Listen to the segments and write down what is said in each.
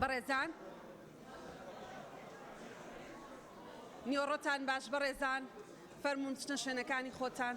بەڕێزان نیۆڕۆتان باش بەڕێزان فەرموون بچنە شوێنەکانی خۆتان.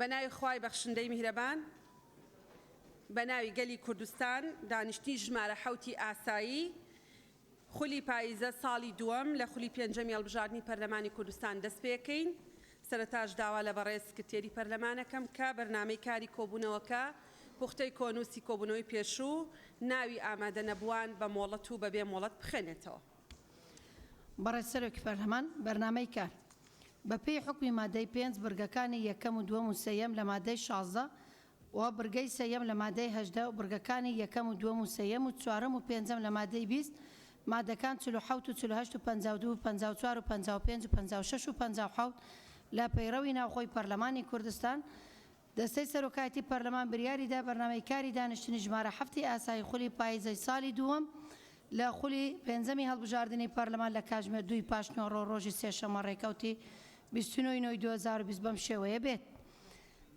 بەناوی خوای بەخشندەی میهرەبان بەناوی گەلی کوردستان دانیشتنی ژمارە حەوتی ئاسایی خولی پاییزە ساڵی دووەم لە خولی پێنجەمی هەڵبژاردنی پەرلەمانی کوردستان دەست پێکەین، سەرەتاش داوا لە بەڕێز سکرتێری پەرلەمان ئەکەم کە بەرنامەی کاری کۆبوونەوەکە پوختەی کۆنووسی کۆبوونەوەی پێشوو ناوی ئامادە نەبووان بە مۆڵەت و بەبێ مۆڵەت بخوێنێتەوە. بەڕێز سەرۆکی پەرلەمان بەرنامەی کار بەپێی حوکمی مادەی پێنج بڕگەکانی یەکەم و دووەم و سێیەم لە مادەی شازدە و بڕگەی سێیەم لە مادەی هەژدە و بڕگەکانی یەکەم و دووەم و سێیەم و چوارەم و پێنجەم لە مادەی بیست، مادەکان چل و حەوت و چل و هەشت و پەنجا و دوو و پەنجا و چوار و پەنجا و پێنج و پەنجا و شەش و پەنجا و حەوت لە پەیڕەوی ناوخۆی پەرلەمانی کوردستان، دەستەی سەرۆکایەتی پەرلەمان بریاری دا بەرنامەی کاری دانیشتنی ژمارە حەفتی ئاسایی خولی پاییزەی سالی دووەم لە خولی پێنجەمی هەڵبژاردنی پەرلەمان لە کاژمێر دوو ی پاشنیوەڕۆ ڕۆژی سێشەممە ڕێکەوتی بیست و نۆ ی نۆ ی دوو هەزار و بیست بەم شێوەیە بێت.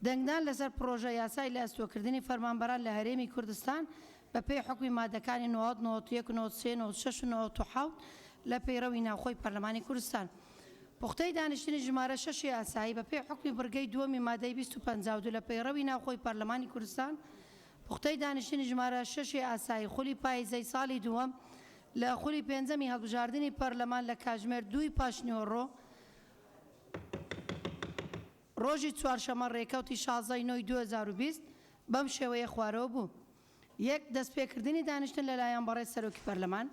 دەنگدان لەسەر پڕۆژە یاسای لە ئەستۆکردنی فەرمانبەران لە هەرێمی کوردستان بە پێی حوکمی مادەکانی نۆزدە، نۆزدە و یەک، نۆزدە و سێ، نۆزدە و شەش و نۆزدە و حەوت لە پەیڕەوی ناوخۆی پەرلەمانی کوردستان پوختەی دانیشتنی ژمارە شەشی ئاسایی بە پێی حوکمی بڕگەی دووەمی مادەی بیست و پەنجا و دوو لە پەیڕەوی ناوخۆی پەرلەمانی کوردستان پوختەی دانیشتنی ژمارە شەشی ئاسایی خولی پاییزەی ساڵی دووەم لە خولی پێنجەمی هەڵبژاردنی پەرلەمان لە کاژمێر دووی پاشنیوەڕۆ. ڕۆژی چوارشەممە ڕێکەوتی شازدە ی نۆ ی دوو هەزار و بیست بەم شێوەیە خوارەوە بوو، یەک دەستپێکردنی دانیشتن لەلایەن بەڕێز سەرۆکی پەرلەمان،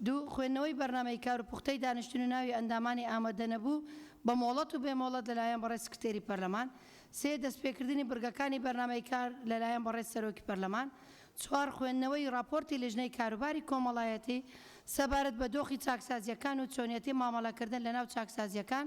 دوو خوێندنەوەی بەرنامەی کار و پوختەی دانیشتن و ناوی ئەندامانی ئامادەنەبوو بە مۆڵەت و بێ مۆڵەت لەلایەن بەڕێز سکرتێری پەرلەمان، سێ دەستپێکردنی بڕگەکانی بەرنامەی کار لەلایەن بەڕێز سەرۆکی پەرلەمان، چوار خوێندنەوەی ڕاپۆرتی لیژنەی کاروباری کۆمەڵایەتی سەبارەت بە دۆخی چاکسازییەکان و چۆنیەتی مامەڵەکردن لەناو چاکسازییەکان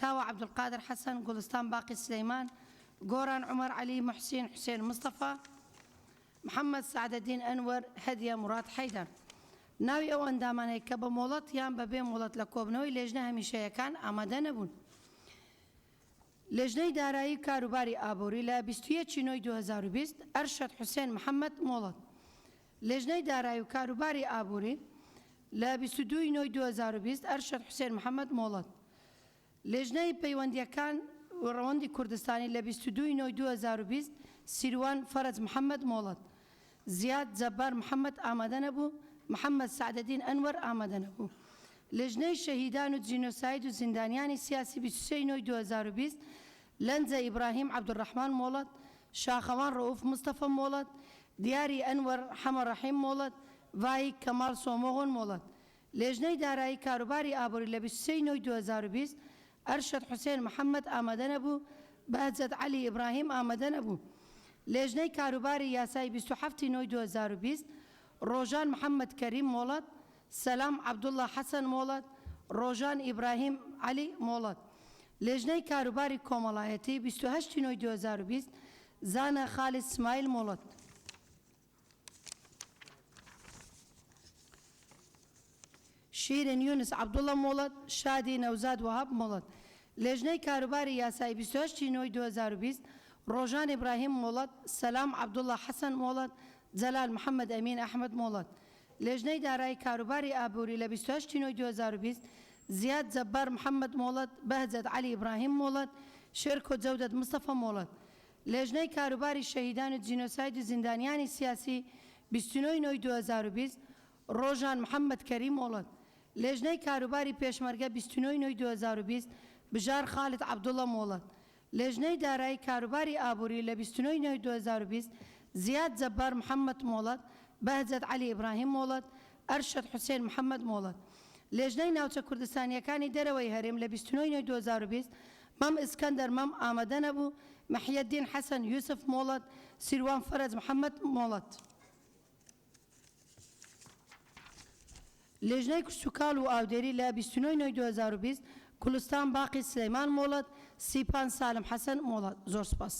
کاوە عەبدولقادر حەسەن، گوڵستان باقی سلەیمان، گۆران عومەر عەلی، موحسین حوسێن مستەفا، محەمەد سەعدەدین ئەنوەر، هەدیە موڕاد حەیدەر. ناوی ئەو ئەندامانەی کە بە مۆڵەت یان بە بێ مۆڵەت لە کۆبنەوەی لێژنە هەمیشەیەکان ئامادە نەبوون. لێژنەی دارایی و کاروباری ئابووری لە بیست و یەک ی نۆی دوو هەزار و بیست، ئەرشەد حوسێن محەمەد، مۆڵەت، لیژنەی دارایی و کاروباری ئابووری، لە بیست و دوو ی نۆی دوو هەزار و بیست، ئەرشەد حوسێن محەمەد مۆڵەت. لیژنەی پەیوەندییەکان و ڕەوەندی کوردستانی، لە بیست و دوو ی نۆی دوو هەزار و بیست، سیروان فەرەج محەمەد مۆڵەت. زیاد جەبار محەمەد ئامادە نەبوو، محەمەد سەعدەدین ئەنوەر ئامادە نەبوو. لیژنەی شەهیدان و جینۆساید و زیندانیانی سیاسی، بیست و سێ ی نۆی دوو هەزار و بیست، لەنجە ئیبراهیم عەبدولڕەحمان مۆڵەت، شاخەوان ڕەئوف مستەفە مۆڵەت، دیاری ئەنوەر حەمە ڕەحیم مۆڵەت، ڤایک کەماڵ سۆمۆغۆن مۆڵەت. لێژنەی دارایی کاروباری ئابووری لە بیست و سێ ی نۆی دوو هەزار و بیست، ئەرشەد حوسێن محەمەد ئامادەنەبوو، بەهجەت عەلی ئیبراهیم ئامادەنەبوو. لێژنەی کاروباری یاسایی بیست و حەفت ی نۆی دوو هەزار و بیست، ڕۆژان محەمەد کەریم مۆڵەت، سەلام عەبدوڵا حەسەن مۆڵەت ڕۆژان ئیبراهیم عەلی مۆڵەت لێژنەی کاروباری کۆمەڵایەتی بیست و هەشت ی نۆی دوو هەزار و بیست زانا خالید سمایل مۆڵەت. شیرین یونس عەبدوڵا مۆڵەت شادی نەوزاد وەهاب مۆڵەت لێژنەی کاروباری یاسایی بیست و هەشت ی نۆی دوو هەزار و بیست ڕۆژان ئیبراهیم مۆڵەت سەلام عەبدوڵا حەسەن مۆڵەت جەلال محەمەد ئەمین ئەحمەد مۆڵەت لیژنەی دارایی کاروباری ئابووری لە بیست و هەشت ی نۆی دوو هەزار و بیست، زیاد جەبار محەمەد مۆڵەت، بەهجەت عەلی ئیبراهیم مۆڵەت، شێرکۆ جەودەت مستەفا مۆڵەت. لیژنەی کاروباری شەهیدان و جینۆساید و زیندانیانی سیاسی، بیست و نۆ ی نۆی دوو هەزار و بیست، ڕۆژان محەمەد کەریم مۆڵەت. لیژنەی کاروباری پێشمەرگە بیست و نۆ ی نۆی دوو هەزار و بیست، بژار خالد عەبدوڵا مۆڵەت. لیژنەی دارایی کاروباری ئابووری لە بیست و نۆ ی نۆی دوو هەزار و بیست، زیاد جەبار محەمەد مۆڵەت، بەهجەت عەلی ئیبراهیم مۆڵەت، ئەرشەد حوسێن محەمەد مۆڵەت. لیژنەی ناوچە کوردستانییەکانی دەرەوەی هەرێم لە بیست و نۆ ی نۆی دوو هەزار و بیست، مەم ئیسکەندەر مەم ئامەدە نەبوو، محیەدین حەسەن یوسف مۆڵەت، سیروان فەرەج محەمەد مۆڵەت. لیژنەی کشتوکاڵ و ئاودێری لە بیست و نۆ ی نۆی دوو هەزار و بیست گولستان باقی سلیمان مۆڵەت سیپان سالم حەسەن مۆڵەت زۆر سوپاس.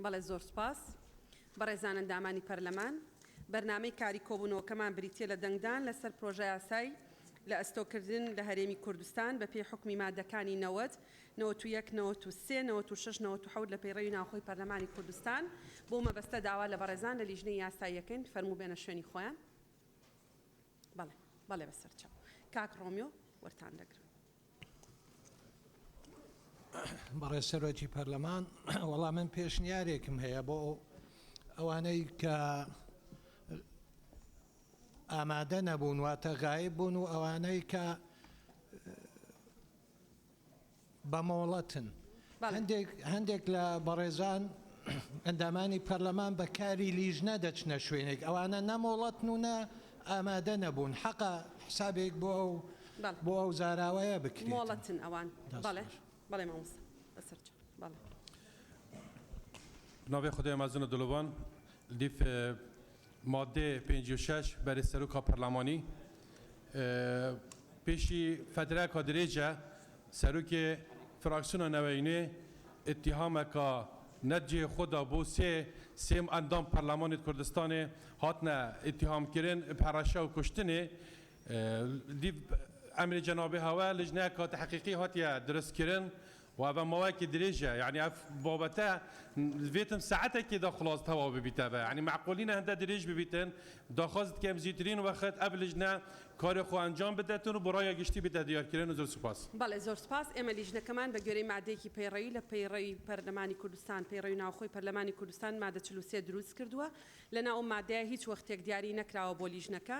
بەڵێ زۆر سوپاس. بەڕێزان ئەندامانی پەرلەمان، بەرنامەی کاری کۆبوونەوەکەمان بریتییە لە دەنگدان لەسەر پرۆژەیاسای لە ئەستۆکردن لە هەرێمی کوردستان بەپێی حوکمی ماددەکانی نەوەد نەوەد و یەک، نەوەد و سێ، نەوەد و شەش، نەوەد و حەوت لە پەیڕەوی ناوخۆی پەرلەمانی کوردستان، بەو مەبەستە داوا لە بەڕێزان لە لیژنەی یاسایی ئەکەین فەرموو بێنە شوێنی خۆیان. بەڵێ، بەڵێ بە سەر چاو. کاک ڕۆمیۆ وەرتان دەگرم. بەڕێز سەرۆکی پەرلەمان، وەڵا من پێشنیارێکم هەیە بۆ ئەوانەی کە ئامادە نەبوون، واتە غایب بوون و ئەوانەی کە بەمۆڵەتن هەندێک هەندێک لە بەڕێزان ئەندامانی پەرلەمان بە کاری لیژنە دەچنە شوێنێک ئەوانە نە مۆڵەتن و نە ئامادە نەبوون حەقە حسابێک بۆ ئەو بەڵێ. بۆ ئەو زاراوەیە بکرێت مۆڵەتن ئەوان دەست بەڵێ خۆش. بەڵێ مامۆستا بەسەر چاو بەڵێ. بناوی خدای مەزن و دلۆڤان لیف ماددەی پێنجی و شەش، بەرێز سەرۆکا پەرلەمانی، پێشی فەترەیەکا درێژە سەرۆکێ فراکسیۆنا نەوەی نوێ ئیتیهامەکا نە جێ خۆ دا بۆ سێ سێم ئەندام پەرلەمانێ کوردستانێ هاتنە ئیتیهامکرن ب هەڕەشە و کوشتنێ دیب ئەمری جەنابی هاوە لجنە کە تەحقیقی هاتیە درست کرن و ئەڤە ماوەیەکی درێژە یانی ئەف بابەتە ڤێتم سەعەتێکی دا خڵاس تەواو ببیتەڤە یانی مەعقول نینە هەندە درێژ ببیتن داخواز دکەم زیترین وەخت ئەڤ لجنە کار خۆ ئەنجام بدەتن و بۆ ڕایا گشتی بیتە دیار کرن و زۆر سوپاس. بەڵێ زۆر سوپاس ئێمە لیژنەکەمان بە گوێرەی مادەیەکی پەیڕەوی لە پەیڕەوی پەرلەمانی کوردستان پەیڕەوی ناوخۆی پەرلەمانی کوردستان مادە چل و سێ دروست کردووە لەناو ئەو مادەیە هیچ وەختێک دیاری نەکراوە بۆ لیژنەکە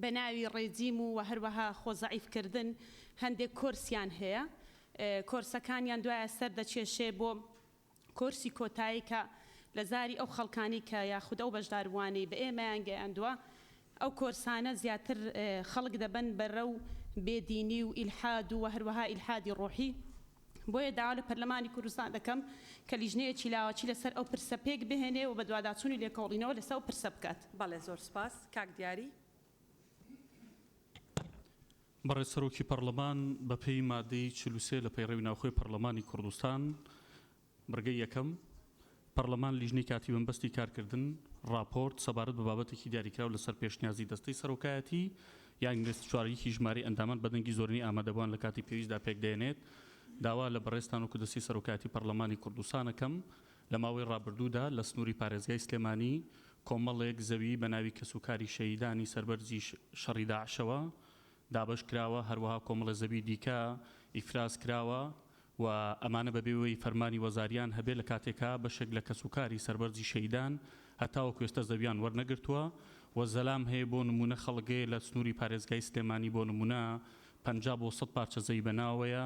بە ناوی ڕێجیم و وە هەروەها خۆ زەعیف کردن هەندێک کۆرسیان هەیە کۆرسەکانیان دوایە سەر دەکێشێ بۆ کۆرسی کۆتایی کە لە زاری ئەو خەڵکانەی کە یاخود ئەو بەشداربووانەی بە ئێمەیان گەیاندووە ئەو کۆرسانە زیاتر خەڵک دەبەن بەرەو بێ دینی و ئیلحاد و وە هەروەها ئیلحادی ڕۆحی بۆیە داوا لە پەرلەمانی کوردستان دەکەم کە لیژنەیەکی لاوەکی لەسەر ئەو پرسە پێکبهێنێ و بەدواداچوون و لێکۆڵینەوە لەسە ئەو پرسە بکات. بەڵێ زۆر سوپاس کاک دیاری. بەڕێز سەرۆکی پەڕلەمان بەپێی مادەی چل و سێ لە پەیڕەوی ناوخۆی پەڕلەمانی کوڕدستان بڕگەی یەکەم، پەرلەمان لیژنەی کاتی بەمبەستی کارکردن ڕاپۆرت سەبارەت بە بابەتێکی دیاریکراو لەسەر پێشنیازی دەستەی سەرۆکایەتی یا ئینگلیست چوار یەکی ژمارەی ئەندامان بە دەنگی زۆرینەی ئامادەبوان لە کاتی پێویستدا پێکدەێنێت. داوا لە بەڕێزتان وەکو دەستەی سەرۆکایەتی پەرلەمانی کوردستان ئەکەم لە ماوەی ڕابردوودا لە سنووری پارێزگای سلێمانی کۆمەڵێک زەوی بە ناوی کەس و کاری شەهیدانی سەربەرزی شەڕی داعشەوە دابەش کراوە هەروەها کۆمەڵێ زەوی دیکە ئیفراز کراوە و ئەمانە بەبێ ئەوەی فەرمانی وەزاریان هەبێت لە کاتێکا بەشێک لە کەس و کاری سەربەرزی شەهیدان هەتاوەکو ئێستا زەویان وەرنەگرتووە و زەلام هەیە بۆ نموونە خەڵک هەیە لە سنووری پارێزگای سلێمانی بۆ نموونە پەنجا بۆ سەد پارچە زەوی بە ناوەوەیە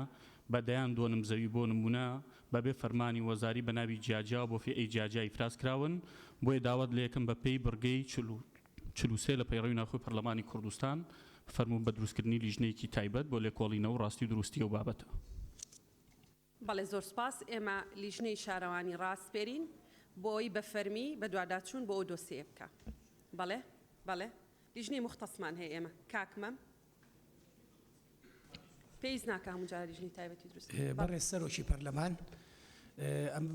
بە دەیان دۆنم زەوی بۆ نموونە بەبێ فەرمانی وەزاری بە ناوی جیاجیا و بۆ فیئەی جیاجیا ئیفراز کراون بۆیە داوات لێ ئەکەم بە پێی بڕگەی چل و چل و سێ لە پەیڕەوی ناوخۆی پەرلەمانی کوردستان فەرموون بە دروستکردنی لیژنەیەکی تایبەت بۆ لێکۆڵینەوە و ڕاستی و دروستی ئەو بابەتە. بەڵێ زۆر سوپاس، ئێمە لیژنەی شارەوانی ڕاسپێرین بۆ ئەوەی بە فەرمی بەدواداچوون بۆ ئەو دۆسێیە بکا. بەڵێ بەڵێ لیژنەی موختەسمان هەیە ئێمە کاک مەم. بەڕێز سەرۆکی پەرلەمان، ئەم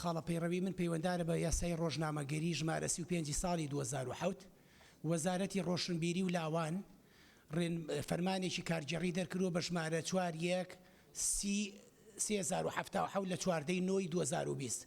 خاڵە پەیڕەوی من پەیوەندارە بە یاسای ڕۆژنامەگەری ژمارە سی و پێنج ی ساڵی دوو هەزار و حەوت، وەزارەتی ڕۆشنبیری و لاوان فەرمانێکی کارگێڕی دەرکردووە بە ژمارە چوار یەک سی سێ هەزار و حەفتا و حەوت لە چواردە ی نۆ ی دوو هەزار و بیست.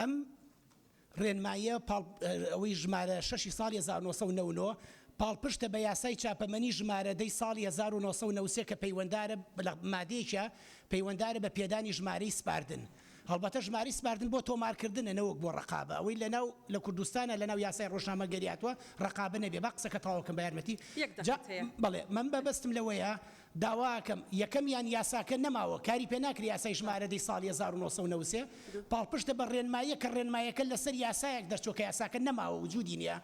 ئەم ڕێنماییە پاڵ ئەوەی ژمارە شەش ی ساڵی هەزار و نۆ سەد و نەوەد و نۆ پاڵپشتە بە یاسای چاپەمەنی ژمارە دە ی ساڵی هەزار و نۆ سەد و نەوەد و سێ کە پەیوەندارە بە مادەیەکە پەیوەندارە بە پێدانی ژمارەی سپاردن هەڵبەتە ژمارەی سپاردن بۆ تۆمارکردنە نەوەک بۆ ڕەقابە ئەوەی لەناو لە کوردستانا لەناو یاسای ڕۆژنامەگەریاتوە ڕەقابە نەبێ با قسەکە تەواو کەم بە یارمەتی جا بەڵێ من بەبەستم لەوەیە داواکەم یەکەمیان یاساکە نەماوە کاری پێ ناکرێ یاسای ژمارە دەی ساڵی هەزار و نۆ سەد و نەوەد و سێ پاڵپشتە بە ڕێنماییەک کە ڕێنماییەکە لەسەر یاسایەک دەرچووە کە یاساکە نەماوە وجودی نیە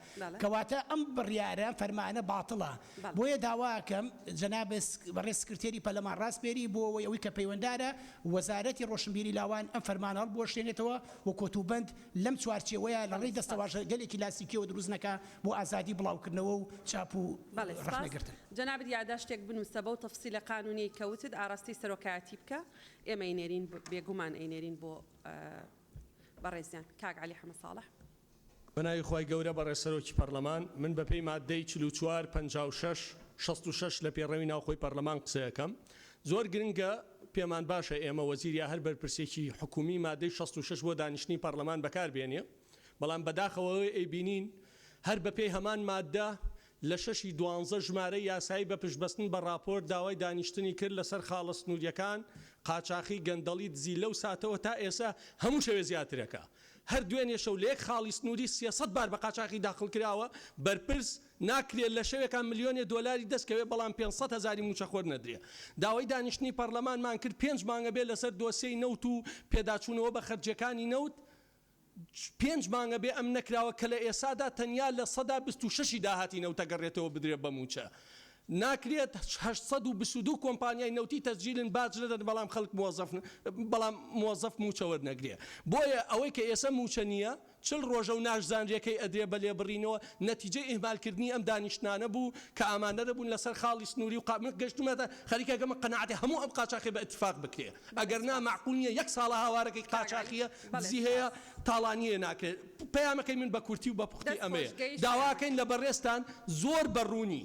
کەواتە ئەم بڕیارە فەرمانە باتڵە بۆیە داواکەم جەناب بەڕێز سکرتێری پەرلەمان ڕاسپێری بۆ ئەوەی کە پەیوەندارە وەزارەتی ڕۆشنبیری لاوان ئەم فەرمانە هەڵبوەشێنێتەوە و کۆتوبەند لەم چوارچێوەیە لەڕێی دەستەواژە گەلێک کلاسیکیەوە دروست نەکا بۆ ئازادی بڵاوکردنەوە و چاپ و بەڵێ سپاس. ڕەخنەگرتن. جەنابت یاداشتێک بنووسە بەو تەفسیلە قانوونیەی کە وتت ئاراستەی سەرۆکایەتی بکە ئێمە ئەینێرین بێگوومان ئەینێرین بۆ بەڕێزیان کاک عەلی حەمە ساڵح. بەناوی خوای گەورە بەڕێز سەرۆکی پەڕلەمان من بەپێی ماددەی چل و چوار پەنجا و شەش شەست و شەش لە پێڕەوی ناوخۆی پەڕلەمان قسەکەم. زۆر گرنگە، پێمان باشە ئێمە وەزیر یا هەر بەرپرسێکی حکوومی مادەی شەست و شەش بۆ دانیشتنی پەڕلەمان بەکار بێنێ، بەڵام بەداخەوە ئەوەی ئەیبینین هەر بەپێی هەمان ماددە لە شەشی دوانزە ژمارەی یاسایی بە پشتبەستن بە ڕاپۆرت داوای دانیشتنی کرد لەسەر خاڵە سنوورییەکان، قاچاخی، گەندەڵی، دزی لەو ساتەوە تا ئێسە هەموو شەوێ زیاترەکا هەر دوێنێ شەو لە یەک خاڵی سنووری سێ سەد بار بە قاچاخی داخڵکراوە بەرپرس، ناکرێ لە شەوێکا ملیۆنێ دۆلاری دەست کەوێ بەڵام پێنج سەد هەزاری مووچەخۆر نەدرێ. داوای دانیشتنی پەڕلەمانمان کرد پێنج مانگە بێ لەسەر دۆسیەی نەوت و پێداچوونەوە بە خەرجیەکانی نەوت پێنج مانگە بێ ئەم نەکراوە کە لە ئێسادا تەنیا لە سەدا بیست و شەشی داهاتی نەوت ئەگەڕێتەوە بدرێ بە مووچە ناکرێت هەشت سەد و بیست و دوو کۆمپانیای نەوتی تەسجیلن باج نەدەن بەڵام خەڵک موەزەف بەڵام موەزەف مووچە وەرنەگرێ بۆیە ئەوەی کە ئێسە مووچە نییە چل ڕۆژە و ناشزانرێ کەی ئەدرێ بە لێبڕینەوە، نەتیجەی ئیهمالکردنی ئەم دانیشتنانە بوو کە ئامادە نەبوون لەسەر خاڵی سنووری و قا من گەشتوومەتە خەریکە گەمە قەناعەتێ هەموو ئەم قاچاخیە بە ئیتفاق بکرێ ئەگەر نا مەعقول نیە یەک ساڵە هاوارەکەی قاچاخیە دزی هەیە تاڵانیێ ناکرێ پەیامەکەی من بە کورتی و بە پوختی ئەمەیە داواکەین لە بەڕێزتان زۆر بە ڕوونی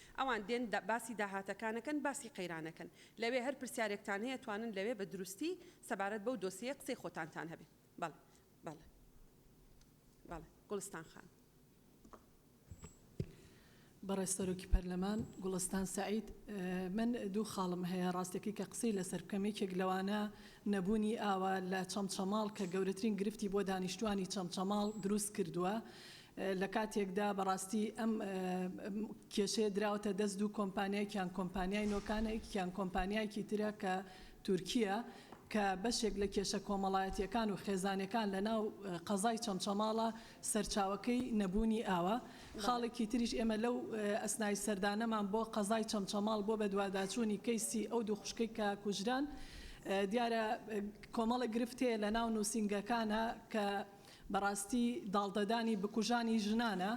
ئەوان دێن باسی داهاتەکانەکەن باسی قەیرانەکەن لەوێ هەر پرسیارێکتان هەیە توانن لەوێ بە دروستی سەبارەت بەو دۆسیەیە قسەی خۆتانتان هەبێ بەڵێ بەڵێ بەڵێ گوڵستان خان. بەڕێز سەرۆکی پەرلەمان گوڵستان سەعید من دوو خاڵم هەیە ڕاستەکەی کە قسەی لەسەر بکەم یەکێک لەوانە نەبوونی ئاوە لە چەمچەماڵ کە گەورەترین گرفتی بۆ دانیشتوانی چەمچەماڵ دروست کردووە لە کاتێکدا بەڕاستی ئەم کێشەیە دراوەتە دەست دوو کۆمپانیایکیان کۆمپانیای نۆکانێکیان کۆمپانیایکی ترە کە تورکیە کە بەشێک لە کێشە کۆمەڵایەتیەکان و خێزانەکان لە ناو قەزای چەمچەماڵە سەرچاوەکەی نەبوونی ئاوە خاڵێکی تریش ئێمە لەو ئەسنای سەردانەمان بۆ قەزای چەمچەماڵ بۆ بەدواداچوونی کەیسی ئەو دوو خوشکەی کە کوژران دیارە کۆمەڵە گرفتەیە لە ناو نووسنگەکانە کە بەڕاستی داڵدەدانی بکوژانی ژنانە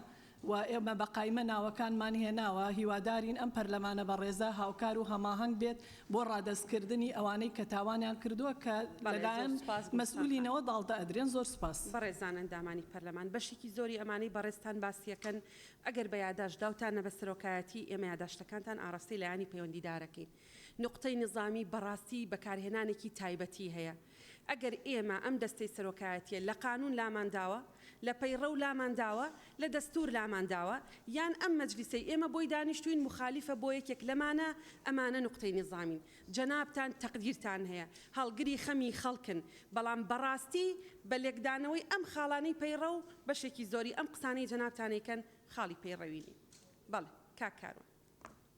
و ئێمە بە قایمە ناوەکانمان هێناوە، هیوادارین ئەم پەرلەمانە بەڕێزە هاوکار و هەماهەنگ بێت بۆ ڕادەستکردنی ئەوانەی کە تاوانیان کردووە کە لەلایەن مەسئولینەوە داڵدە ئەدرێن. زۆر سوپاس. بەڕێزان ئەندامانی پەرلەمان، بەشێکی زۆری ئەمانەی بەڕێزتان باسیەکەن ئەگەر بە یاداشت داوتانە بە سەرۆکایەتی ئێمە یاداشتەکانتان ئاڕاستەی لایەنی پەیوەندیدارەکەین. نوقتەی نیزامی بەڕاستی بەکارهێنانێکی تایبەتی هەیە. ئەگەر ئێمە ئەم دەستەی سەرۆکایەتیە لە قانون لامان داوە، لە پەیڕەو لامان داوە، لە دەستور لامان داوە، یان ئەم مەجلیسەی ئێمە بۆی دانیشتوین مخالیفە بۆ یەکێک لەمانە، ئەمانە نوقتەی نیزامین. جەنابتان تەقدیرتان هەیە، هەڵگری خەمی خەڵکن، بەڵام بەڕاستی بە لێکدانەوەی ئەم خاڵانەی پەیڕەو، بەشێکی زۆری ئەم قسانەی جەنابتان ئەیکەن خاڵی پەیڕەوی نین. بەڵێ کاک کاروان.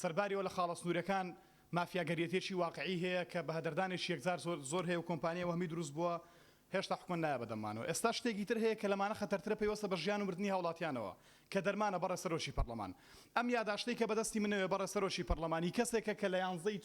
سەرباریەوە لە خاڵە سنوریەکان مافیاگەریەتیەکی واقعی هەیە کە بەهەدەردانێکی یەکجار زۆر زۆر هەیە و کۆمپانیای وەهمی دروست بووە هێشتا حکومەت نایە بەدەممانەوە ئێستا شتێکی تر هەیە کە لەمانە خەتەرترە پەیوەستە بە ژیان و مردنی هاوڵاتیانەوە کە دەرمانە بەڕێز سەرۆکی پەرڵەمان ئەم یاداشتەی کە بەدەستی منەوێ بەڕێز سەرۆکی پەرڵەمانی کەسێکە کە لە یانزەی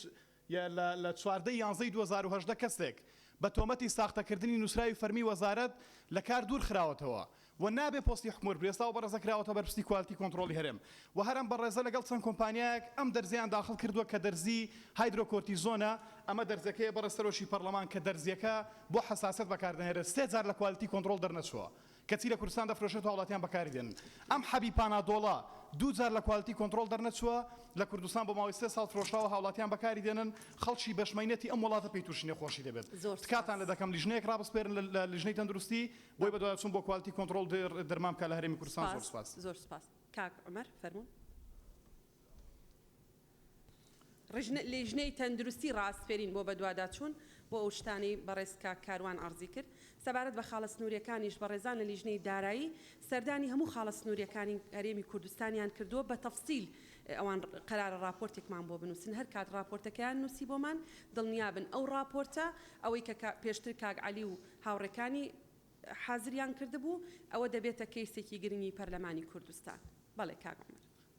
ی لە لە چواردە ی یانزە ی دوو هەزار و هەژدە کەسێک بە تۆمەتی ساختەکردنی نووسراوی فەرمی وەزارەت لە کار دوور خراوەتەوە و نابێ پۆستی حکومر بێ ئێستا ئەو بەڕێزە کراوەتە بەرپرسی کوالتی کۆنتڕۆڵی هەرێم و هەر ئەم بەڕێزە لەگەڵ چەند کۆمپانیایەک ئەم دەرزیەیان داخڵ کردووە کە دەرزی هایدرۆ کۆرتیزۆنە ئەمە دەرزەکەیە بەڕێز سەرۆکی پەڕڵەمان کە دەرزیەکە بۆ حەساسەت بەکار دەهێنرێت سێ جار لە کوالتی کۆنتڕۆڵ دەرنەچووە کەچی لە کوردستان دەفرۆشرێت و هاوڵاتیان بەکاری دێنن ئەم حەبی پانادۆڵە دوو جار لە کوالیتی کۆنتڕۆڵ دەرنەچووە لە کوردستان بۆ ماوەی سێ ساڵ فرۆشراوە هاوڵاتیان بەکاری دێنن خەڵکی بەش مەینەتی ئەم وڵاتە پێی تووشی نەخۆشی دەبێت تکاتان لە دەکەم لیژنەیەک ڕابسپێرن لە لیژنەی تەندروستی بۆی بەدواداچوون بۆ کوالیتی کۆنتڕۆڵ درمان بکات لە هەرێمی کوردستان زۆر سوپاس. زۆر سوپاس کاک عومەر فەرموون. لیژنەی تەندروستی ڕاسپێرین بۆ بەدواداچوون بۆ ئەو شتانەی بەڕێز کاک کاروان عەرزی کرد، سەبارەت بە خاڵە سنووریەکانیش بەڕێزان لە لیژنەی دارایی سەردانی هەموو خاڵە سنووریەکانی هەرێمی کوردستانیان کردووە بە تەفسیل ئەوان قەرارە ڕاپۆرتێکمان بۆ بنووسن هەر کات ڕاپۆرتەکەیان نووسی بۆمان دڵنیابن ئەو ڕاپۆرتە ئەوەی کە پێشتر کاک عەلی و هاوڕێکانی حازریان کردبوو ئەوە دەبێتە کەیسێکی گرنگی پەرلەمانی کوردستان. بەڵێ کاک عومەر.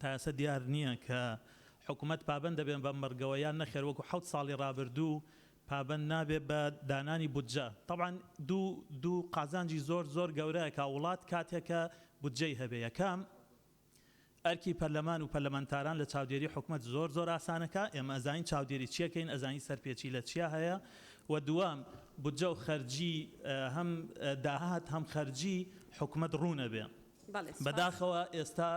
تا ئێستا دیار نییە کە حکومەت پابەند دەبێت بەم بڕگەوە یان نەخێر وەکو حەوت ساڵی رابردوو پابەند نابێت بە دانانی بودجە تەبعەن دوو دوو قازانجی زۆر زۆر گەورەیە کە وڵات کاتێک کە بودجەی هەبێت یەکەم ئەرکی پەرلەمان و پەرلەمانتاران لە چاودێری حکومەت زۆر زۆر ئاسانەکە ئێمە ئەزانین چاودێری چی ئەکەین ئەزانین سەرپێچی لە چیا هەیە و دووەم بودجە و خەرجی هەم داهات هەم خەرجی حکومەت روون ئەبێت. بەداخەوە ئێستا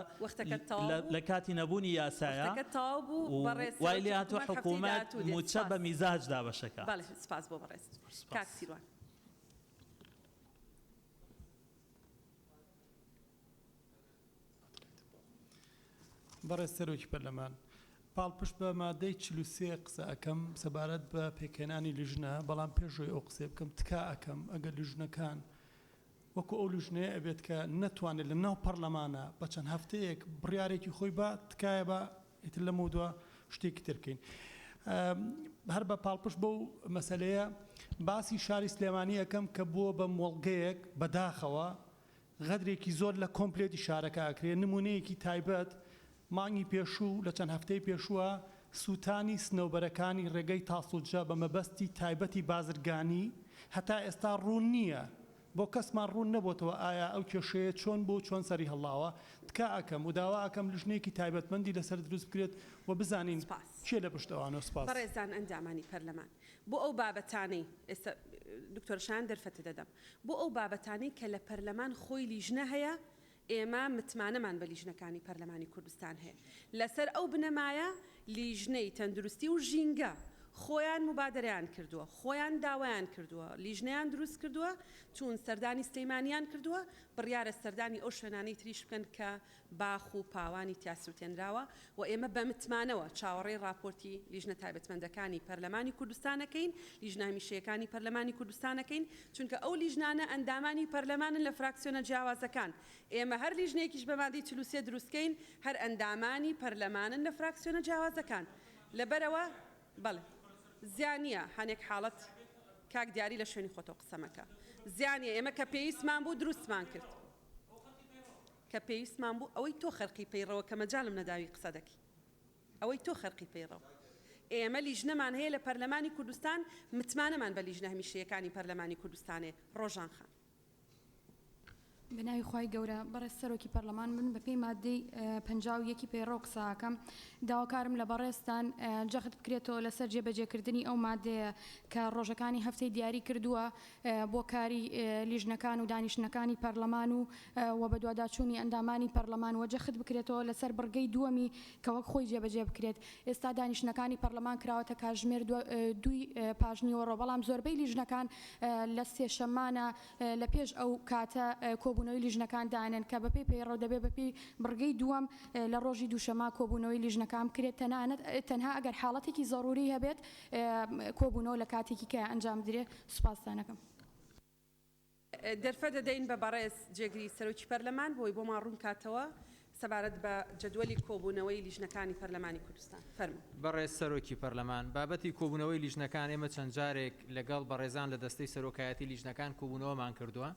لە کاتی نەبوونی یاسایە و وای لێهاتووە حکوومەت مووچە بە میزاج دابەشە کات. بەڕێز سەرۆکی پەرلەمان، پاڵپشت بە مادەی چل و سێ قسە ئەکەم سەبارەت بە پێکهێنانی لیژنە، بەڵام پێشەوەی ئەو قسەی بکەم تکا ئەکەم ئەگەر لیژنەکان، وەکو ئەو لوژنەیە ئەبێت کە نەتوانێت لە ناو پەڕلەمانا بە چەند هەفتەیەک بڕیارێکی خۆی با تکایە با ئیتر لەمەو دوا شتێکی تر بکەین هەر بە پاڵپشت بەو مەسلەیە باسی شاری سلێمانی ئەەکەم کە بووە بە مۆڵگەیەک بەداخەوە غەدرێکی زۆر لە کۆمپلێتی شارەکە ئەکرێ نمونەیەکی تایبەت مانگی پێشوو لە چەند هەفتەی پێشووە سووتانی سنەوبەرەکانی ڕێگەی تاسڵجە بە مەبەستی تایبەتی بازرگانی هەتا ئێستا ڕوون نییە بۆ کەسمان ڕوون نەبۆتەوە ئایا ئەو کێشەیە چۆن بوو چۆن سەری هەڵاوە تکا ئەکەم و داوا ئەکەم لژنەیەکی تایبەتمەندی لەسەر دروست بکرێت و بزانین سپاس. کێ لە پشت ئەوانە سپاس. بەڕێزان ئەندامانی پەرلەمان بۆ ئەو بابەتانەی، ئێستا دکتۆرە شایان دەرفەتت ئەدەم، بۆ ئەو بابەتانەی کە لە پەرلەمان خۆی لیژنە هەیە ئێمە متمانەمان بە لیژنەکانی پەرلەمانی کوردستان هەیە، لەسەر ئەو بنەمایە لیژنەی تەندروستی و ژینگە خۆیان موبادەرەیان کردووە، خۆیان داوایان کردووە، لیژنەیان دروست کردووە، چوون سەردانی سلێمانیان کردووە، بڕیارە سەردانی ئەو شوێنانەی تریش بکەن کە باخ و پاوانی تیا سووتێنراوە، و ئێمە بە متمانەوە چاوەڕێی ڕاپۆرتی لیژنە تایبەتمەندەکانی پەرلەمانی کوردستانەکەین، لیژنە هەمیشەیەکانی پەرلەمانی کوردستانەکەین، چونکە ئەو لیژنانە ئەندامانی پەرلەمانن لە فراکسیۆنە جیاوازەکان، ئێمە هەر لیژنەیەکیش بە مادەی چل و سێ دروستکەین هەر ئەندامانی پەرلەمانن لە فراکسیۆنە جیاوازەکان، لەبەرئەوە بەڵێ زیانیە هەنێک حاڵەت کاک دیاری لە شوێنی خۆتەوە قسەمەکە زیانیە ئێمە کە پێویستمان بوو دروستمان کرد. کە پێویستمان بوو ئەوەی تۆ خەرقی پەیڕەوە کە مەجالم نەداوی قسە دەکەی ئەوەی تۆ خەرقی پەیڕەوە ئێمە لیژنەمان هەیە لە پەرلەمانی کوردستان متمانەمان بە لیژنە هەمیشەیەکانی پەرلەمانی کوردستانێ ڕۆژان خان. بەناوی خوای گەورە بەڕێز سەرۆکی پەرلەمان من بەپێی ماددەی پەنجا و یەکی پەیڕەو قسە ئەکەم داواکارم لە بەڕێزتان جەخت بکرێتەوە لەسەر جێبەجێکردنی ئەو ماددەیە کە ڕۆژەکانی هەفتەی دیاری کردووە بۆ کاری لیژنەکان و دانیشتنەکانی پەرلەمان و وە بەدواداچوونی ئەندامانی پەرلەمان وە جەخت بکرێتەوە لەسەر بڕگەی دووەمی کە وەک خۆی جێبەجێ بکرێت ئێستا دانیشتنەکانی پەرلەمان کراوەتە کاتژمێر دووی پاش نیوەڕۆ بەڵام زۆربەی لیژنەکان لە سێشەممانە لە پێش ئەو کاتە کۆبوونەوەی لیژنەکان دانێن کە بەپێی پەیڕەو دەبێت بەپێی بڕگەی دووەم لە ڕۆژی دووشەممە کۆبوونەوەی لیژنەکان بکرێت تەنانەت تەنها ئەگەر حاڵەتێکی زەڕووری هەبێت کۆبوونەوە لە کاتێکی کە ئەنجام بدرێ سوپاستان ئەکەم. دەرفەت ئەدەین بە بەڕێز جێگری سەرۆکی پەرلەمان بۆی بۆمان ڕوون کاتەوە سەبارەت بە جەدوەلی کۆبوونەوەی لیژنەکانی پەرلەمانی کوردستان. فەرموو. بەڕێز سەرۆکی پەرلەمان، بابەتی کۆبوونەوەی لیژنەکان ئێمە چەند جارێک لەگەڵ بەڕێزان لە دەستەی سەرۆکایەتی لیژنەکان کۆبوونەوەمان کردووە.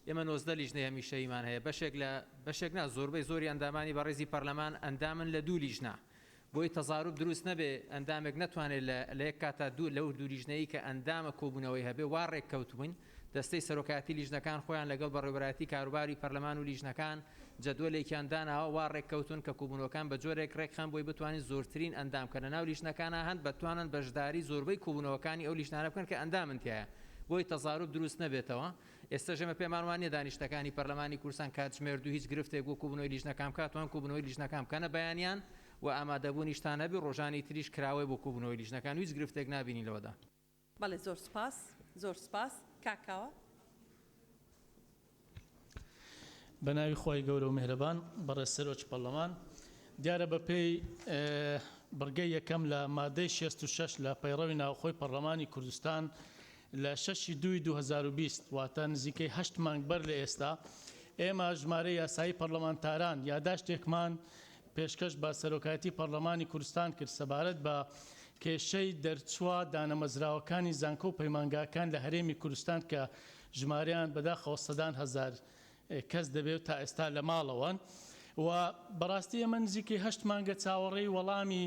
ئێمە نۆزدە لیژنەی هەمیشەییمان هەیە. بەشێک لە، بەشێک نا زۆربەی زۆری ئەندامانی بەڕێزی پەرلەمان ئەندامن لە دوو لیژنە. بۆی تەزاروب دروست نەبێ، ئەندامێک نەتوانێ لە لە یەک کاتدا دوو لەو دوو لیژنەیی کە ئەندامە کۆبوونەوەی هەبێ، وا ڕێک کەوتبووین، دەستەی سەرۆکایەتی لیژنەکان خۆیان لەگەڵ بەڕێوەبەرایەتی کاروباری پەرلەمان و لیژنەکان جەدوەلێکیان داناوە وا ڕێک کەوتوون کە کۆبوونەوەکان بە جۆرێک ڕێک خەن بۆی بتوانین زۆرترین ئەندام کە لە ناو لیژنەکانا هەن بتوانن بەشداری زۆربەی کۆبوونەوەکانی ئەو لیژنانە بکەن کە ئەندامن تیایا بۆی تەزاروب دروست نەبێتەوە. ئێستەش ئێمە پێمان وانیە دانیشتنەکانی پەرلەمانی کوردستان کاتژمێردو هیچ گرفتێک وەکو بنەوەی لیژنەکان بکات توان کو بنەوەی لیژنەکان بکەنە بەیانیان و ئامادەبونیشتان هەبی رۆژانی تریش کراوەی بۆ کو بنەوەی لیژنەکان و هیچ گرفتێک نابینین لەوەدا. بەڵێ زۆر سوپاس زۆر سوپاس کاک کاوە. بەناوی خوای گەورە و میهرەبان بەڕێز سەرۆکی پەڕلەمان دیارە بەپێی بڕگەی یەکەم لە مادەی شێست و شەش لە پەیڕەوی ناوخۆی پەڕلەمانی کوردستان لە شەش ی دووی دوو هەزار و بیست، واتە نزیکەی هەشت مانگ بەر لە ئێستا، ئێمە ژمارەی یاسایی پەڕلەمانتاران یاداشتێکمان پێشکەش بە سەرۆکایەتی پەڕلەمانی کوردستان کرد سەبارەت بە کێشەی دەرچووە دانەمەزراوەکانی زانکۆ و پەیمانگاکان لە هەرێمی کوردستان کە ژمارەیان بەداخەوە سەدان هەزار کەس دەبێ و تا ئێستا لە ماڵەوەن و بەڕاستی ئێمە نزیکەی هەشت مانگە چاوەڕێی وەڵامی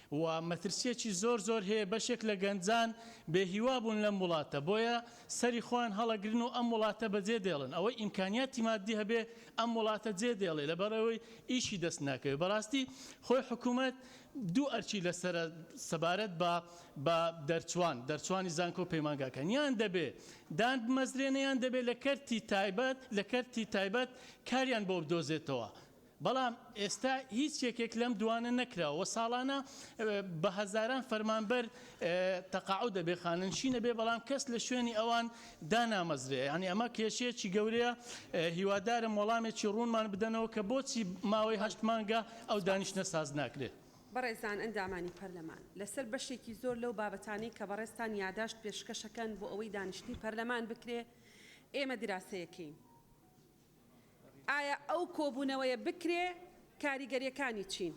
و مەترسیەکی زۆر زۆر هەیە بەشێک لە گەنجان بێ هیوا بوون لەم وڵاتە بۆیە سەری خۆیان هەڵەگرن و ئەم وڵاتە بە جێ دێڵن ئەوەی ئیمکانیاتی مادی هەبێ ئەم وڵاتە جێ دێڵێ لەبەر ئەوەی ئیشی دەست ناکەوێ بەڕاستی خۆی حکومەت دوو ئەرکی لەسەرە سەبارەت بە بە دەرچوان دەرچوانی زانکۆ پەیمانگاکان یان دەبێ دان بمەزرێنێ یان دەبێ لە کەرتی تایبەت لە کەرتی تایبەت کاریان بۆ بدۆزێتەوە بەڵام ئێستا هیچ یەکێک لەم دووانە نەکراوە و ساڵانە بە هەزاران فەرمانبەر تەقاعود دەبێت، خانەنشین دەبێت، بەڵام کەس لە شوێنی ئەوان دانامەزرێ، یانی ئەمە کێشەیەکی گەورەیە، هیوادارم وەڵامێکی ڕوونمان بدەنەوە کە بۆچی ماوەی هەشت مانگە ئەو دانیشتنە ساز ناکرێت. بەڕێزان ئەندامانی پەرلەمان، لەسەر بەشێکی زۆر لەو بابەتانەی کە بەڕێزتان یاداشت پێشکەشەکەن بۆ ئەوەی دانیشتنی پەرلەمان بکرێ، ئێمە دراسەیەکەین. ئایا ئەو کۆبوونەوەیە بکرێ کاریگەریەکانی چین؟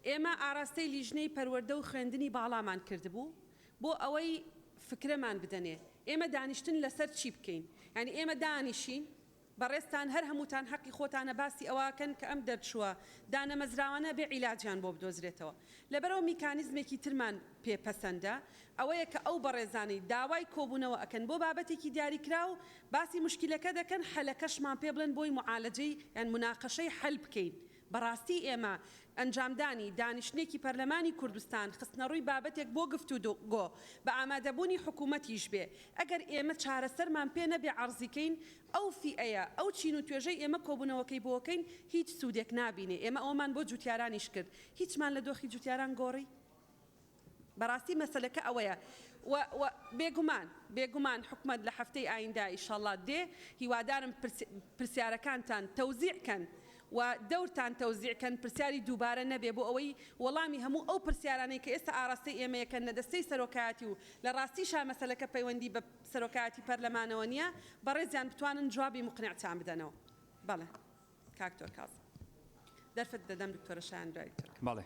ئێمە ئاراستەی لیژنەی پەروەردە و خوێندنی باڵامان کردبوو بۆ ئەوەی فکرەمان بدەنێ ئێمە دانیشتن لەسەر چی بکەین؟ یانی ئێمە دانیشین بەڕێزتان هەر هەمووتان حەقی خۆتانە باسی ئەوەکەن کە ئەم دەرچووە دانەمەزراوانە بێ عیلاجیان بۆ بدۆزرێتەوە لەبەرئەوە میکانیزمێکی ترمان پێ پەسەندە ئەوەیە کە ئەو بەڕێزانەی داوای کۆبوونەوە ئەکەن بۆ بابەتێکی دیاریکراو باسی موشکیلەکە دەکەن حەلەکەشمان پێ بڵێن بۆی معالەجەی یان مناقەشەی حەل بکەین بەڕاستی ئێمە ئەنجامدانی دانیشتنێکی پەرلەمانی کوردستان خستنەڕووی بابەتێک بۆ گفتوگۆ بە ئامادەبوونی حکوومەتیش بێ ئەگەر ئێمە چارەسەرمان پێ نەبێ عەڕزی کەین ئەو فیئەیە ئەو چین و توێژەی ئێمە کۆبوونەوەکەی بۆکەین هیچ سوودێک نابینێ ئێمە ئەوەمان بۆ جووتیارانیش کرد هیچمان لە دۆخی جووتیاران گۆڕی بەڕاستی مەسەلەکە ئەوەیە و و بێگومان بێگومان حکومەت لە هەفتەی ئایندە ئیشەڵا دێ هیوادارم پرس پرسیارەکانتان تەوزیع کەن و دەورتان تەوزیع کەن پرسیاری دووبارە نەبێ بۆ ئەوەی وەڵامی هەموو ئەو پرسیارانەی کە ئێستا ئاڕاستەی ئێمەیە کەن لە دەستەی سەرۆکایەتی و لە ڕاستیشا مەسەلەکە پەیوەندی بە سەرۆکایەتی پەرلەمانەوە نیە بەڕێزیان بتوانن جوابی موقنعتان بدەنەوە بەڵێ کاک دکتۆر کاظم دەرفەت دەدەم دکتۆرە شایان دوای دکتۆر کاظم. بەڵێ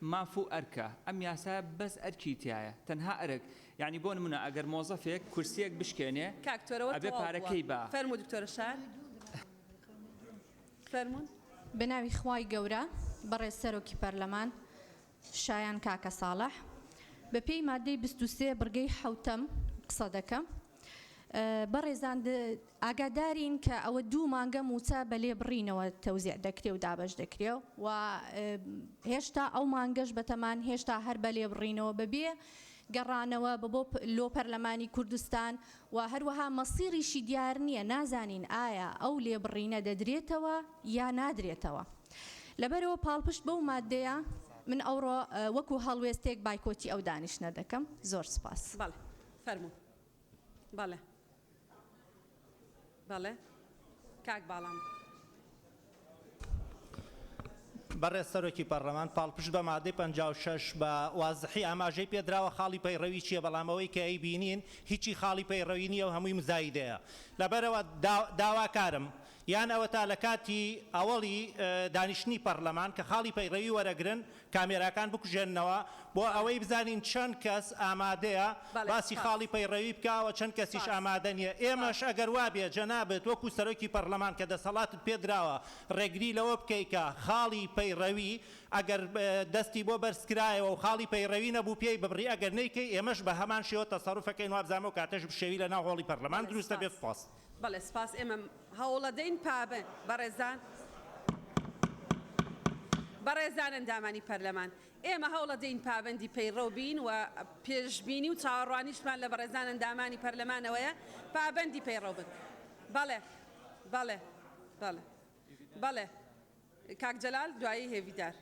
ماف و ئەرکە، ئەم یاسایە بەس ئەرکی تیایە، تەنها ئەرک، یانی بۆ نمونە ئەگەر مۆزەفێک کورسیەک بشکێنێ کاک تۆرەوە ئەبێ تەواو بووە پارەکەی با. فەرموو دکتۆرە شار فەرموون. بەناوی خوای گەورە بەڕێز سەرۆکی پەرلەمان شایان کاکە ساڵح بەپێی ماددەی بیست و سێ بڕگەی حەوتەم قسەدەکەم. بەڕێزان ئاگادارین کە ئەوە دوو مانگە مووچە بە لێبڕینەوە تەوزیع دەکرێ و دابەش دەکرێ و هێشتا ئەو مانگەش بەتەمان هێشتا هەر بە لێبڕینەوە بەبێ گەڕانەوە بە بۆ لۆ پەرلەمانی کوردستان و هەروەها مەسیڕیشی دیار نییە نازانین ئایا ئەو لێبڕینە دەدرێتەوە یا نادرێتەوە لەبەرەوە پاڵپشت بەو مادەیە من ئەوڕۆ وەکو هەڵوێستێک بایکۆتی ئەو دانیشتە دەکەم زۆر سپاس بەڵێ. فەرموو بەڵێ بەڵێ کاک باڵام. بەڕێز سەرۆکی پەڕلەمان پاڵپشت بە مادەی پەنجا و شەش بە وازحی ئاماژەی پێدراوە خاڵی پەیڕەوی چیە بەڵام ئەوەی کە ئەیبینین هیچی خاڵی پەیڕەوی نیە و هەمووی مزایدەیە لەبەرئەوە داواکارم یان ئەوەتا لە کاتی ئەوەڵی دانیشتنی پەڕلەمان کە خاڵی پەیڕەوی وەرەگرن کامێراکان بکوژێننەوە بۆ ئەوەی بزانین چەند کەس ئامادەیە بەڵێ باسی سپاس. خاڵی پەیڕەوی بکا و چەند کەسیش سپاس. ئامادە نیە سپاس. ئێمەش ئەگەر وابێ جەنابت وەکو سەرۆکی پەڕلەمان کە دەسەڵاتت پێ دراوە ڕێگری لەوە بکەی کە خاڵی پەیڕەوی ئەگەر دەستی بۆ بەرز کرایەوە و خاڵی پەیڕەوی نەبوو پێی ببڕی ئەگەر نەیکەی ئێمەش بە هەمان شێوە تەسەڕوف ئەکەین وابزانم ئەو کاتەش بشێوی لە ناو هۆڵی پەڕلەمان بەڵێ دروست سپاس. ئەبێت سپاس. بەڵێ سپاس ئێمە هەوڵەدەین پابەند بەڕێزان بەڕێزان ئەندامانی پەرلەمان ئێمە هەوڵەدەین پابەندی پەیڕەو بین و پێشبینی و چاوەڕوانیشمان لە بەڕێزان ئەندامانی پەرلەمانەوەیە پابەندی پەیڕەو بن بەڵێ بەڵێ بەڵێ بەڵێ کاک جەلال دوایی هێڤیدار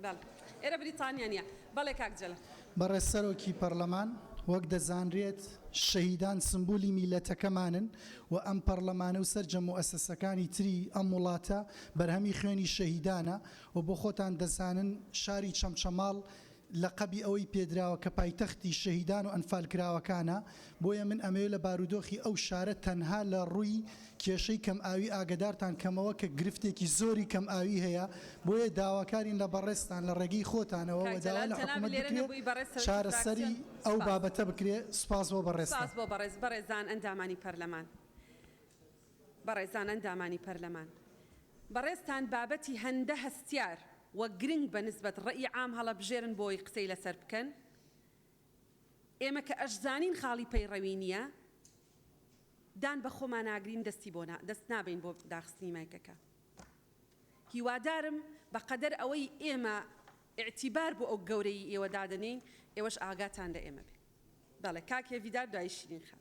بەڵ ئێرە بریتانیا نیە. بەڵێ کاک جەلال. بەڕێز سەرۆکی پەڕلەمان، وەک دەزانرێت شەهیدان سمبولی میللەتەکەمانن و ئەم پەڕلەمانە و سەرجەم موئەسەسەکانی تری ئەم وڵاتە بەرهەمی خوێنی شەهیدانە و بۆ خۆتان دەزانن شاری چەمچەماڵ لەقەبی ئەوەی پێدراوە کە پایتەختی شەهیدان و ئەنفالکراوەکانە، بۆیە من ئەمەوێت لە بارودۆخی ئەو شارە تەنها لە ڕووی کێشەی کەمئاوی ئاگەدارتان کەمەوە کە گرفتێکی زۆری کەمئاوی هەیە، بۆیە داواکارین لە بەڕێزتان لە ڕێگەی خۆتانەوە کاک و داوا جەلال لە جەنابت حکومەت لێرە بکرێت نەبووی بەڕێز سەرۆکی چارەسەری فراکسیۆن ئەو سپاس. بابەتە بکرێت. سپاس بۆ سپاس بەڕێزتان. بۆ بەڕێز بەڕێزان ئەندامانی پەرلەمان بەڕێزان ئەندامانی پەرلەمان بەڕێزتان بابەتی هەندە هەستیار و گرنگ بە نسبەت ڕەئی عام هەڵەبژێرن بۆی قسەی لەسەر بکەن، ئێمە کە ئەشزانین خاڵی پەیڕەوی نییە، دان بە خۆماناگرین دەستی بۆ نا، دەست نابەین بۆ داخستنی مایکەکە. هیوادارم بە قەدەر ئەوەی ئێمە ئیعتیبار بۆ ئەو گەورەیی ئێوە دادەنێین، ئێوەش ئاگاتان لە ئێمە بێ. بەڵێ کاک هێڤیدار دوایی شیرین خان.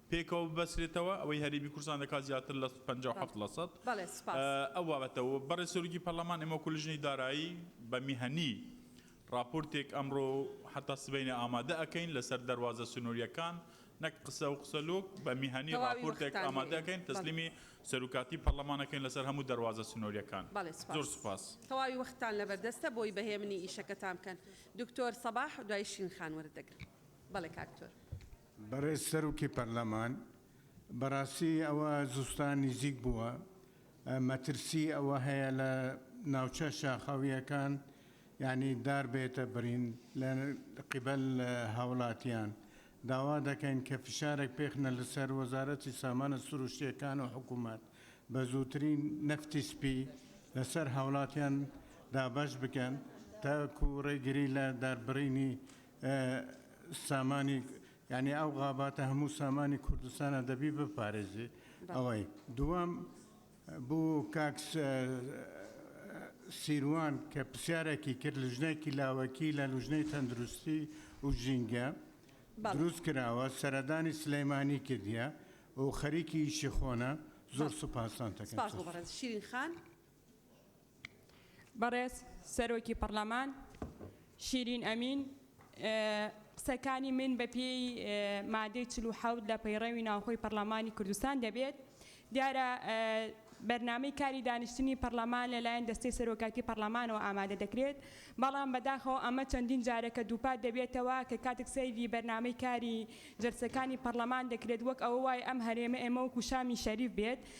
پێکەوە ببەسرێتەوە ئەوەی هەرێمی کوردستان دەکات زیاتر لە پەنجا و حەفت لە سەد بەڵێ سوپاس. ئەو بابەتە و بەڕێز سەرۆکی پەرلەمان ئێمە وەکو لجنەی دارایی بە میهەنی ڕاپۆرتێک ئەمڕۆ و حەتا سبەینێ ئامادە ئەکەین لەسەر دەروازە سنووریەکان نەک قسە و قسە لۆک بە میهەنی تەواوی ڕاپۆرتێک وەختتان ئامادە هەیە ئەکەین بەڵێ. تەسلیمی سەروکاتی پەرلەمان ئەکەین لەسەر هەموو دەروازە سنووریەکان بەڵێ زۆر سوپاس. سوپاس. تەواوی وەختتان لەبەردەستە بۆی بە هێمنی ئیشەکەتان بکەن دکتۆر سەباح دوای شیرین خان وەرت دەگرم بەڵێ کاک دکتۆر. بەڕێز سەرۆکی پەرلەمان، بەڕاستی ئەوە زستان نیزیک بووە، مەترسی ئەوە هەیە لە ناوچە شاخاوییەکان یانی دار بێتە بڕین لە قیبەل هاوڵاتیان، داوا دەکەین کە فشارێک بێخنە لەسەر وەزارەتی سامانە سروشتییەکان و حکوومەت بە زووترین نەفتی سپی لەسەر هاوڵاتیان دابەش بکەن تاکوو ڕێگری لە داربڕینی سامانی یعنی ئەو غاباتە هەموو سامانی کوردستانە دەبی بپارێزی ئەوەی دووەم بۆ کاکس سیروان کە پرسیارێکی کرد لژنێکی لاوەکی لە لوژنەی تەندروستی و ژینگە دروست کراوە سەردانی سلەیمانی کردیە و خەریکی ئیشی خۆنە زۆر سوپاسان تەکەن شیرین خان. بەڕێز سەرۆکی پەڕلەمان شیرین ئەمین قسەکانی من بە پێی مادەی چل و حەوت لە پەیڕەوی ناوخۆی پەڕلەمانی کوردستان دەبێت دیارە بەرنامەی کاری دانیشتنی پەڕلەمان لەلایەن دەستەی سەرۆکایەتی پەڕلەمانەوە ئامادە دەکرێت بەڵام بەداخەوە ئەمە چەندین جارەکە دووپات دەبێتەوە کە کاتێک سەیری بەرنامەی کاری جەلسەکانی پەڕلەمان دەکرێت وەک ئەوە وای ئەم هەرێمە ئێمە وەکو شامی شەریف بێت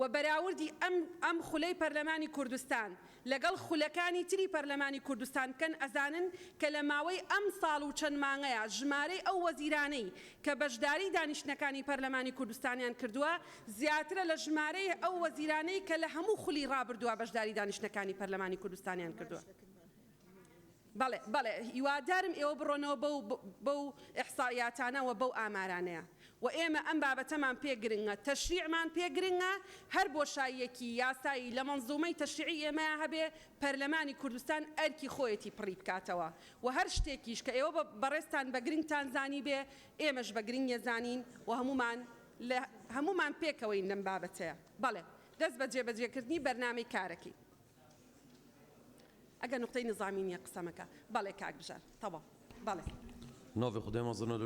وە بەراوردی ئەم ئەم خولەی پەرلەمانی کوردستان لەگەڵ خولەکانی تری پەرلەمانی کوردستان بکەن ئەزانن کە لە ماوەی ئەم ساڵ و چەند مانگەیا ژمارەی ئەو وەزیرانەی کە بەشداری دانیشتنەکانی پەرلەمانی کوردستانیان کردوە زیاترە لە ژمارەی ئەو وەزیرانەی کە لە هەموو خولی ڕابردوا بەشداری دانیشتنەکانی پەرلەمانی کوردستانیان کردوە. بەڵێ بەڵێ هیوادارم ئێوە بڕۆنەوە بەو بەو ئیحسائیاتانە وە بەو ئامارانەیە وە ئێمە ئەم بابەتەمان پێ گرنگە تەشریعمان پێ گرنگە هەر بۆشاییەکی یاسایی لە مەنزومەی تەشریعی ئێمەیا هەبێ پەرلەمانی کوردستان ئەرکی خۆیەتی پڕی بکاتەوە وە هەر شتێکیش کە ئێوە بەڕێزتان بە گرنگتان زانیبێ ئێمەش بە گرنگی زانین وە هەموومان لە هەموومان پێکەوەین لەم بابەتەیا بەڵێ دەست بە جێبەجێکردنی بەرنامەی کارەکەین. ئەگەر نوقتەی نزامی نیە قسە مەکە. بەڵێ کاک بژار تەواو بەڵێ. ناڤی خودێ مەزنە.